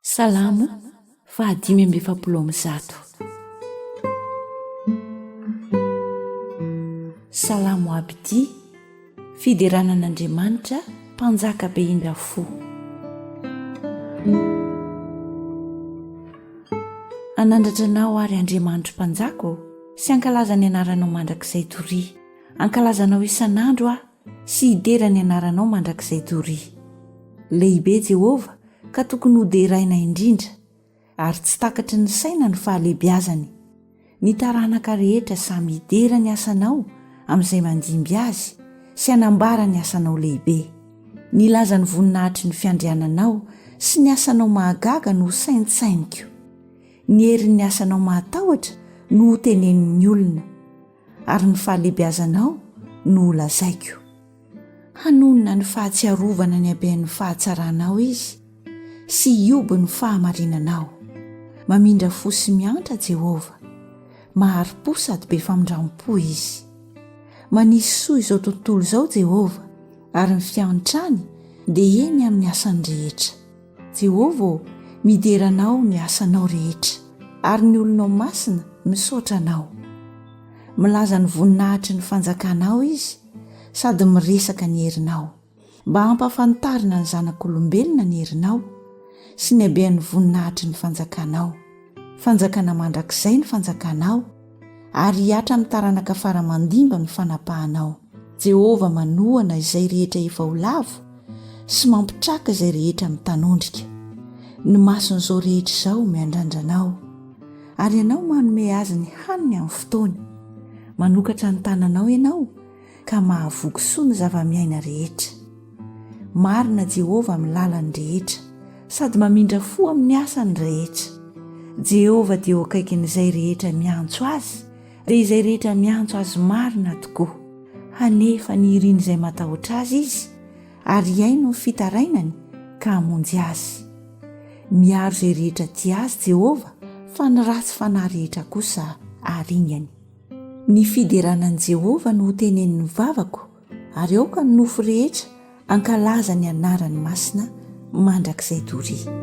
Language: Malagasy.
Salamo fahadimy amby efapolo amby zato Salamo abidi Fiderana an'Andriamanitra mpanjaka be indra fo Anandratra anao ary Andriamanitro mpanjaka ô Sy ankalaza ny anaranao mandrakizay Toria ankalazanao isan'andro aho sy hidera ny anaranao mandrakizay doria. Lehibe Jehovah ka tokony hoderaina indrindra, ary tsy takatry ny saina ny fahalehibiazany. Ny taranaka rehetra samy hidera ny asanao amin'izay mandimby azy sy hanambara ny asanao lehibe. Nilaza ny voninahatry ny fiandriananao sy ny asanao mahagaga no hosaintsainiko. Ny herin'ny asanao mahatahotra no hotenenin'ny olona. ary ny fahalehibiazanao no holazaiko. Hanonona ny fahatsiarovana ny haben'ny fahatsaranao izy sy hioby ny fahamarinanao. Mamindra fo sy miantra Jehovah. Mahari-po sady be famindram-po izy. Manisy soa izao tontolo izao Jehovah, ary ny fiantrany dia eny amin'ny asany rehetra. Jehovah ô, midera anao ny asanao rehetra, ary ny olonao masina misaotra anao. Milaza ny voninahitry ny fanjakanao izy, sady miresaka ny herinao, mba hampahafantarina ny zanak'olombelona ny herinao, sy ny habean'ny voninahitry ny fanjakanao. Fanjakana mandrakizay ny Fanjakanao, ary hihatra amin'ny taranaka fara mandimby ny fanapahanao. Jehovah manohana izay rehetra efa ho lavo, sy mampitraka izay rehetra mitanondrika. Ny mason'izao rehetra izao miandrandra anao, ary ianao manome azy ny haniny amin'ny fotoany. Manokatra ny tananao ianao. ka mahavoky soa ny zava-miaina rehetra. Marina Jehovah amin'ny lalany rehetra, sady mamindra fo amin'ny asany rehetra. Jehovah dia eo akaikin'izay rehetra miantso azy, dia izay rehetra miantso azy marina tokoa. Hanefa ny irin'izay matahotra azy izy, ary hihaino ny fitarainany ka hamonjy azy. Miaro izay rehetra tia azy Jehovah, fa ny ratsy fanahy rehetra kosa aringany. Ny fiderana an'i Jehovah no hotenenin'ny vavako, ary aoka ny nofo rehetra hankalaza ny anarany masina mandrakizay doria.